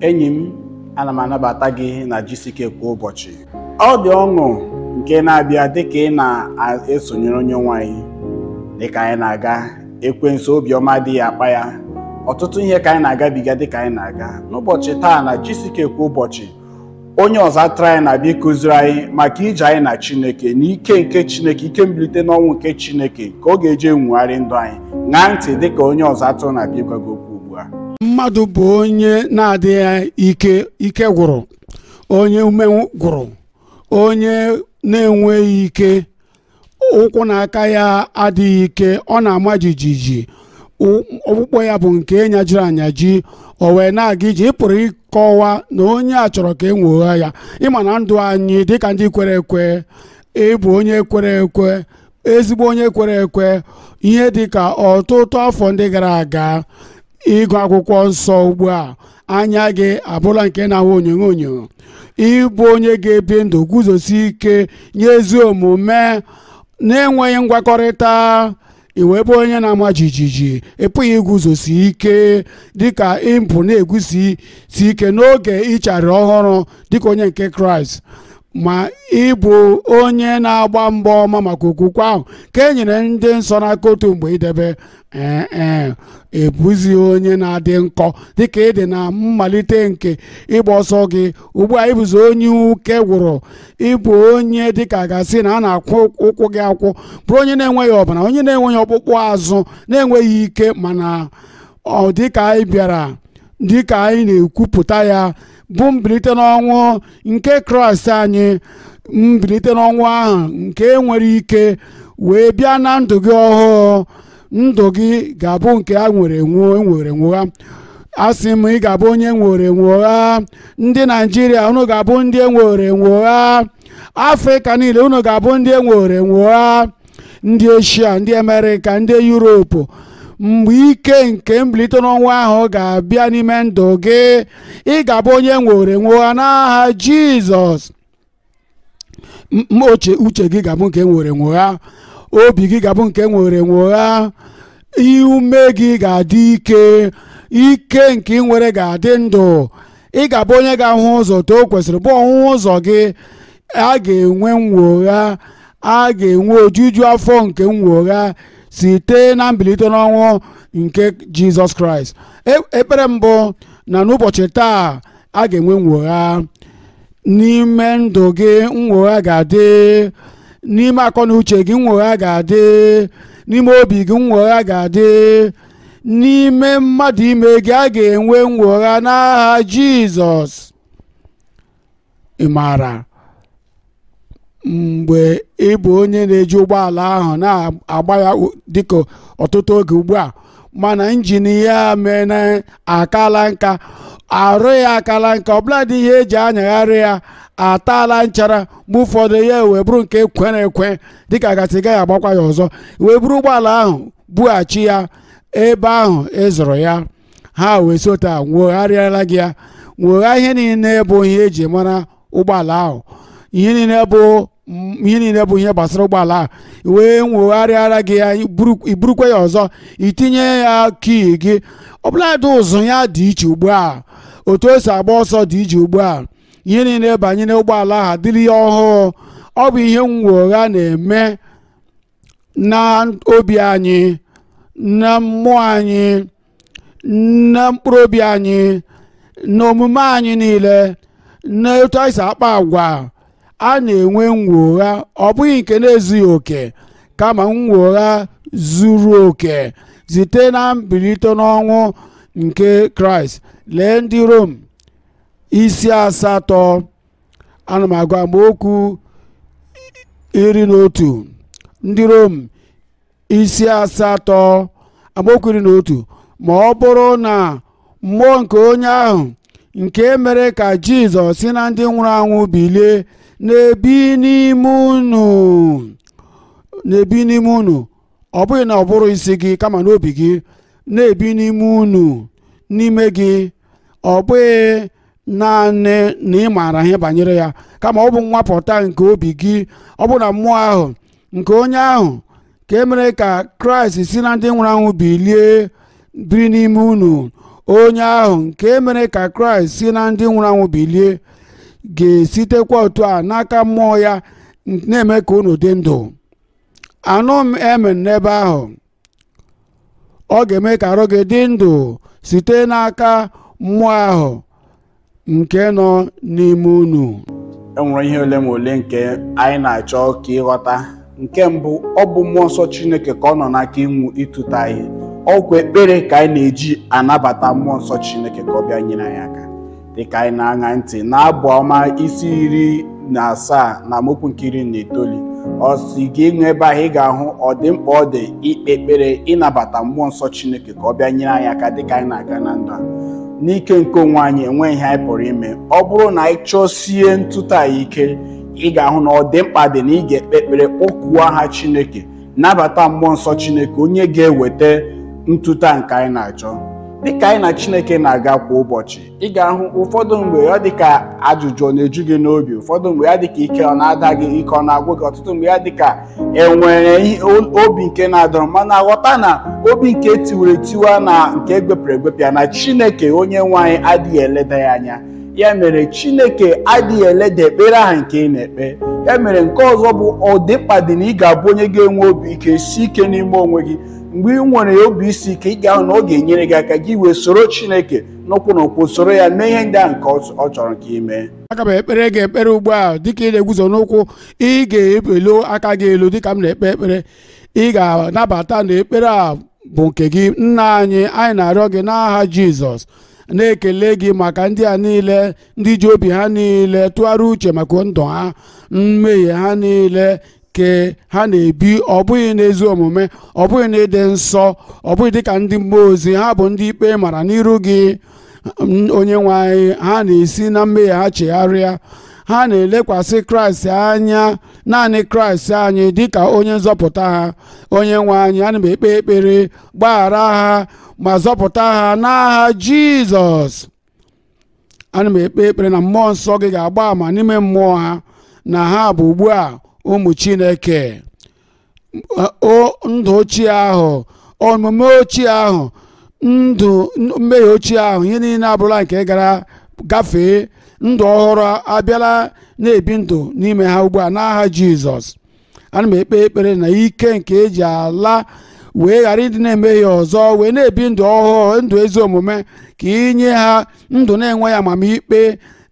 enyi m ana m anabata gị na gck kwa ụbọchị ọ dị ọṅụ nke na-abịa dịka ị na-esonyere onyenwe anyị dịka anyị na-aga ekwensu obiọma adịghị akpa ya ọtụtụ ihe ka anyị na-agabiga dịka anyị na-aga n'ụbọchị taa na gck kwa ụbọchị onye ọzụzụ atụrụ anyị na-abịa ịkụziri anyị maka ije anyị na chineke na ike nke chineke ike mbilite n'ọnwụ nke chineke ka ọ ga-eji enwogharị ndụ anyị ṅaa ntị dịka onye ọzụzụ atụrụ na-abịa ịgwa gị okwu ugbu a mmadụ bụ onye na-adịghị ike ike gwụrụ onye ume gwụrụ onye na-enweghị ike ụkwụ na aka ya adịghị ike ọ na-ama jijiji ọkpụkpụ ya bụ nke nyajiri anyaji o wee na-aga ije ị pụrụ ịkọwa na onye a chọrọ ka e nwogha ya ị ma na ndụ anyị dịka ndị kwere ekwe ị bụ onye kwere ekwe ezigbo onye kwere ekwe ihe dịka ọtụtụ afọ ndị gara aga ịgụ akwụkwọ nsọ ugbu a anya gị abụla nke na-ahụ onyonyo onyonyo ị bụ onye ga-ebi ndụ guzosi ike nye ezi omume na-enweghị ngwakọrịta i wee bụ onye na-ama jijiji ị pụghị iguzosi ike dịka i bu na-eguzosi ike n'oge i chegharịrị ọhụrụ dịka onye nke kraịst ma ị bụ onye na-agba mgba ọma maka okwukwe ahụ nke e nyere ndị nsọ n'aka otu mgbe idebe ee ee ị bụzi onye na-adị nkọ dịka ị dị na mmalite nke ịgba ọsọ gị ugbu a ị bụzi onye ike gwụrụ ị bụ onye dịka a ga-asị na a na-akwụ ụkwụ gị akwụ bụrụ onye na-enweghị ọbara onye na-enweghị ọkpụkpụ azụ na-enweghị ike mana dịka anyị bịara dịka anyị na-ekwupụta ya bụ mbilite n'ọnwụ nke kraịst anyị mbilite n'ọnwụ ahụ nke nwere ike wee bịa na ndụ gị ọhụụ ndụ gị ga-abụ nke e nworo enwo e nworo enwogha asị m ị ga-abụ onye e nworo enwogha ndị naijiria unu ga-abụ ndị e nworo enwogha afrịka niile unu ga-abụ ndị e nworo enwogha ndị eshia ndị amerịka ndị yuropu mgbe ike nke mbilite n'ọnwụ ahụ ga-abịa n'ime ndụ gị ị ga-abụ onye e nworo enwogha n'aha jizọs M- m- uche uche gị ga-abụ nke e nworo enwogha obi gị ga-abụ nke e nworo enwogha ume gị ga-adị ike ike nke ị nwere ga-adị ndụ ị ga-abụ onye ga-ahụ ụzọ otu o kwesịrị bụ ọhụhụ ụzọ gị a ga-enwe nnwogha a ga-enwe ojuju afọ nke nnwogha site na mbilite n'ọnwụ nke jizọs kraịst E- ekpere mbụ na n'ụbọchị taa a ga-enwe nnwogha n'ime ndụ gị nnwogha ga-adị n'ime akọ na uche gị nnwogha ga-adị n'ime obi gị nnwogha ga-adị n'ime mmadụ ime gị a ga-enwe nnwogha n'aha jizọs ị maara mgbe ị bụ onye na-eji ụgbọala ahụ na-agba ya dịka ọtụtụ oge ugbu a mana injin ya mee na akala nka arụ ya akala nka ọbụladị ihe eji anyagharị ya ataala nchara mgbe ụfọdụ ya wee bụrụ nke kwere ekwe dịka a ga-asị ị gaghị agbakwa ya ọzọ i wee buru ụgbọala ahụ bughachi ya ebe ahụ ị zụrụ ya ha wee si otu a nwogharịala gị ya nwogha ihe niile bụ ihe eji mara ụgbọala ahụ ihe niile bụ m- ihe niile bụ ihe gbasara ụgbọala ahụ wee nwogharịara gị ya i buru- i burukwa ya ọzọ i tinye ya kii gị ọbụladị ụzụ ya dị iche ugbu a otu o si agba ọsọ dị iche ugbu a ihe niile banyere ụgbọala ahụ adịrị ya ọhụụ ọ bụ ihe nnwogha na-eme na obi anyị na mmụọ anyị na mkpụrụ obi anyị na omume anyị niile na etu anyị si akpa agwa a na-enwe nnwogha ọ bụghị nke na-ezughị oke kama nnwogha zuru oke site na mbilite n'ọnwụ nke kraịst lee ndị rom isi asatọ ana m agụ amaokwu iri na otu ndị rom isi asatọ amaokwu iri na otu ma ọ bụrụ na mmụọ nke onye ahụ nke mere ka jizọs si na ndị nwụrụ anwụ bilie na-ebi n'ime unu na-ebi n'ime unu ọ bụghị n'ụbụrụ isi gị kama n'obi gị na-ebi n'ime unu n'ime gị ọ bụghị naanị na ị maara ihe banyere ya kama ọ bụ nnwapụta nke obi gị ọ bụrụ na mmụọ ahụ nke onye ahụ nke mere ka kraịst si na ndị nwụrụ anwụ bilie biri n'ime unu onye ahụ nke mere ka kraịst si na ndị nwụrụ anwụ bilie ga-esitekwa otu a n'aka mmụọ ya na-eme ka unu dị ndụ anụ m emen n'ebe ahụ ọ ga-eme ka arụ gị dị ndụ site n'aka mmụọ ahụ nke nọ n'ime unu enwere ihe ole ma ole nke anyị na-achọ ka ị ghọta nke mbụ ọ bụ mmụọ nsọ chineke ka ọ nọ n'aka ịnwụ ịtụte anyị ọ bụkwa ekpere ka anyị na-eji anabata mmụọ nsọ chineke ka ọ bịa nyere anyị aka dịka anyị na-aṅa ntị n'abụ ọma isi iri na asaa na amaokwu nke iri na itoolu ọ si gị ịṅụ ebe ahụ ị ga-ahụ ọdịmkpa ọ dị ikpe ekpere ịnabata mmụọ nsọ chineke ka ọ bịa nyere anyị aka dịka anyị na-aga na ndụ a n'ike nke onwe anyị enweghị ihe anyị pụrụ ime ọ bụrụ na anyị chọsie ntụta ya ike ị ga-ahụ na ọdịmkpa dị na ị ga-ekpe ekpere kpọkuo aha chineke nabata mmụọ nsọ chineke onye ga-eweta ntụta nke anyị na-achọ dịka anyị na chineke na-aga kwa ụbọchị ị ga-ahụ ụfọdụ mgbe ọ dịka ajụjụ ọ na-eju gị n'obi ụfọdụ mgbe ya dịka ike ọ na-ada gị ike ọ na-agwụ gị ọtụtụ mgbe ya dịka enwere ihe- o- obi nke na-adọrọ mana ghọta na obi nke tiwara etiwa na nke egwepịara egwepịa na chineke onye nwe anyị adịghị eleda ya anya ya mere chineke adịghị eleda ekpere ahụ nke ị na-ekpe ya mere nke ọzọ bụ ọdịmkpa dị na ị ga-abụ onye ga-enwe obi ike sie ike n'ime onwe gị mgbe ị nwere obi isi ike ị ga-ahụ na ọ ga-enyere gị aka gị wee soro chineke n'ụkwụ na ụkwụ soro ya mee ihe ndị ahụ nke ọ chọrọ ka ị mee aga m ekpere gị ekpere ugbu a dịka ị na-eguzo n'ụkwụ ị ga-eweli aka gị elu dịka m na-ekpe ekpere ị ga-anabata na ekpere a bụ nke gị nna anyị anyị na-arịọ gị n'aha jizọs na-ekele gị maka ndị a niile ndị ji obi ha niile tụgharịa uche maka ndụ ha mmehie ha niile ke ha na-ebi ọ bụghị n'ezi omume ọ bụghị n'ịdị nsọ ọ bụghị dịka ndị mmụọ ozi ha bụ ndị ikpe mara n'iru gị onye nwe anyị ha na-esi na mmehie ha chegharịa ha na-elekwasị kraịst anya naanị kraịst anyị dịka onye nzọpụta ha onye nwe anyị ana m ekpe ekpere gbaghara ha ma zọpụta ha n'aha jizọs ana m ekpe ekpere na mmụọ nsọ gị ga-agba ama n'ime mmụọ ha na ha bụ ugbu a ụmụ chineke ndụ ochie ahụ omume ochie ahụ ndụ mmehie ochie ahụ ihe niile abụrụla nke gara gafee ndụ ọhụrụ abịala na-ebi ndụ n'ime ha ugbu a n'aha jizọs ana m ekpe ekpere na ike nke eji ala wee ghara ịdị na-emehie ọzọ wee na-ebi ndụ ọhụụ ndụ ezi omume ka i nye ha ndụ na-enweghị amamikpe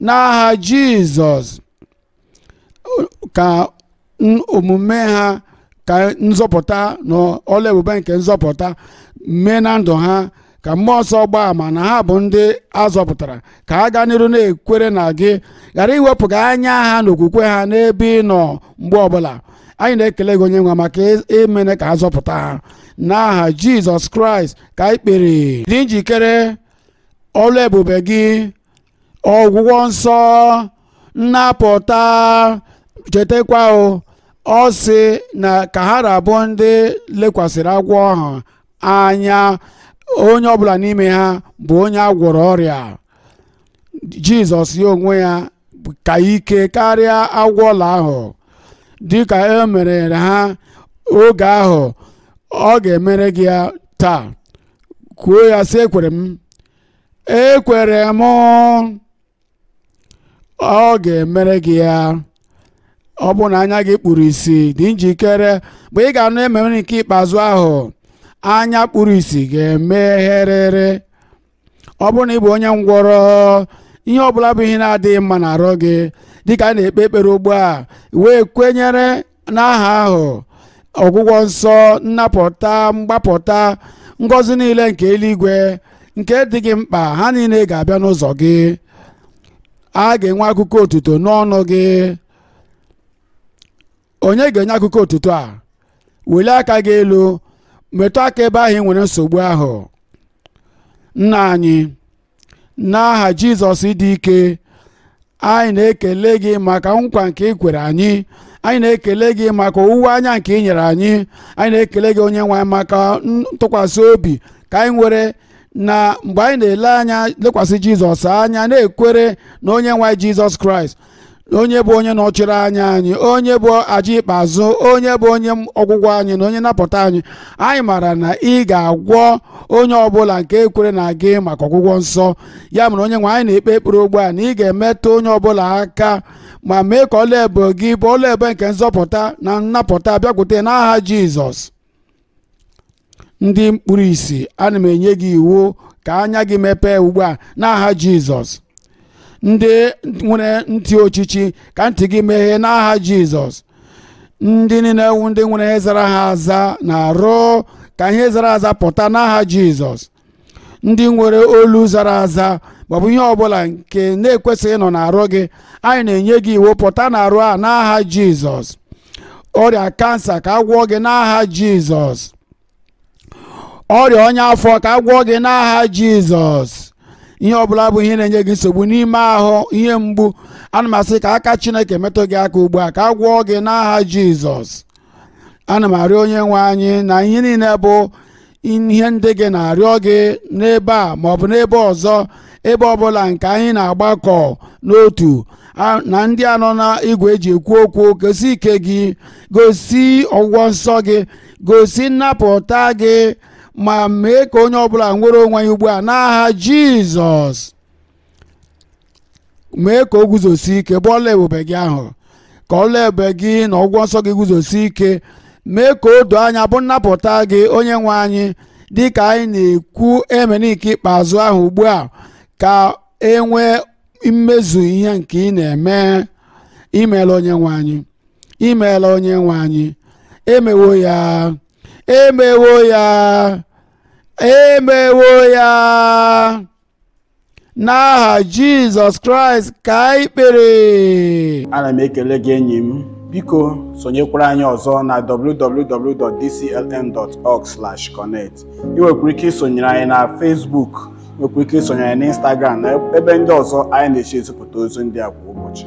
n'aha jizọs ka omume ha ka nzọpụta na ọlụ ebube nke nzọpụta mee na ndụ ha ka mmụọ nsọ gbaa ama na ha bụ ndị azọpụtara ka ha gaa n'iru na-ekwere na gị ghara iwepụga anya ha na okwukwe ha n'ebe ị nọ mgbe ọbụla anyị na-ekele gị onye nwe maka i meene ka a zọpụta ha n'aha jizọs kraịst ka anyị kpere dị njikere ọlụ ebube gị ọgwụgwọ nsọ nnapụta chetakwa o ọ sị na ka ha ra bụ ndị lekwasịrị agwọ ahụ anya onye ọbụla n'ime ha bụ onye a gwọrọ ọrịa jizọs ya onwe ya ka ike karịa agwọ ọla ahụ dịka e mere ha oge ahụ ọ ga-emere gị ya taa kwuo ya sị ekwere m ekwere m ọ ga-emere gị ya ọ bụ na anya gị kpuru isi dị njikere mgbe ị ga-anụ amen nke ikpeazụ ahụ anya kpuru isi ga-emegherịrị ọ bụrụ na ị bụ onye ngwọrọ ihe ọbụla bụ ihe na-adịghị mma n'arụ gị dịka a na-ekpe ekpere ugbu a wee kwenyere n'aha ahụ ọgwụgwọ nsọ nnapụta mgbapụta ngọzi niile nke eluigwe nke dị gị mkpa ha niile ga-abịa n'ụzọ gị a ga-enwe akụkọ otuto n'ọnụ gị onye ga-enye akụkọ otuto a welie aka gị elu metụ aka ebe ahụ ị nwere nsogbu ahụ nna anyị n'aha jizọs dị ike anyị na-ekele gị maka nkwa nke ị kwere anyị anyị na-ekele gị maka owuwe anya nke ị nyere anyị anyị na-ekele gị onye nwe anyị maka ntụkwasị obi ka anyị nwere na mgbe anyị na-ele anya lekwasị jizọs anya na-ekwere na onye nwe anyị jizọs kraịst onye bụ onye nọchiri anya anyị onye bụ aja ikpeazụ onye bụ onye ọgwụgwọ anyị na onye nnapụta anyị anyị maara na ị ga-agwọ onye ọbụla nke ekwere na gị maka ọgwụgwọ nsọ ya mere onye nwe anyị na-ekpe ekpere ugbu a na ị ga-emetụ onye ọbụla aka ma mee ka ọlụ ebube gị bụ ọlụ ebube nke nzọpụta na nnapụta bịakwute n'aha Jizọs ndị kpuru isi ana m enye gị iwu ka anya gị mepee ugbu a n'aha jizọs ndị nwere ntị ochichi ka ntị gị meghee n'aha jizọs ndị niile bụ ndị nwere ihe zara ha aza n'arụ ka ihe zara aza pụta n'aha jizọs ndị nwere olu zara aza maọbụ ihe ọbụla nke na-ekwesịghị ịnọ n'arụ gị anyị na-enye gị iwu pụta n'arụ a n'aha jizọs ọrịa kansa ka a gwọọ gị n'aha jizọs ọrịa ọnya afọ ka a gwọọ gị n'aha jizọs ihe ọbụla bụ ihe na-enye gị nsogbu n'ime ahụ ihe mgbu ana m asị ka aka chineke metụ gị aka ugbu a ka a gwọọ gị n'aha jizọs ana m arịọ onye nwe anyị na ihe niile bụ ihe ndị gị na-arịọ gị n'ebe a maọbụ n'ebe ọzọ ebe ọbụla nke anyị na-agbakọ n'otu na ndị a nọ na igwe e ji ekwu okwu gosi ike gị gosi ọgwụgwọ nsọ gị gosi nnapụta gị ma mee ka onye ọbụla nwere onwe ya ugbu a n'aha Jizọs mee ka o guzosi ike bụ ọlụ ebube gị ahụ ka ọlụ ebube gị na ọgwụgwọ nsọ gị guzosi ike mee ka o doo anya bụ nnapụta gị onye nwe anyị dị ka anyị na-ekwu amen nke ikpeazụ ahụ ugbu a ka e nwee mmezu ihe nke ị na-eme imeela onye nwe anyị imeela onye nwe anyị emewo ya emewo ya emewo ya n'aha jizọs kraịst ka anyị kpere ana m ekele gị enyi m biko sonyekwara anyị ọzọ na www.dclm.org/connect ị nwekwara ike isonyere anyị na facebook ị nwekwara ike isonyere anyị na instagram na ebe ndị ọzọ anyị na-esi ezipụta ozi ndị a kwa ụbọchị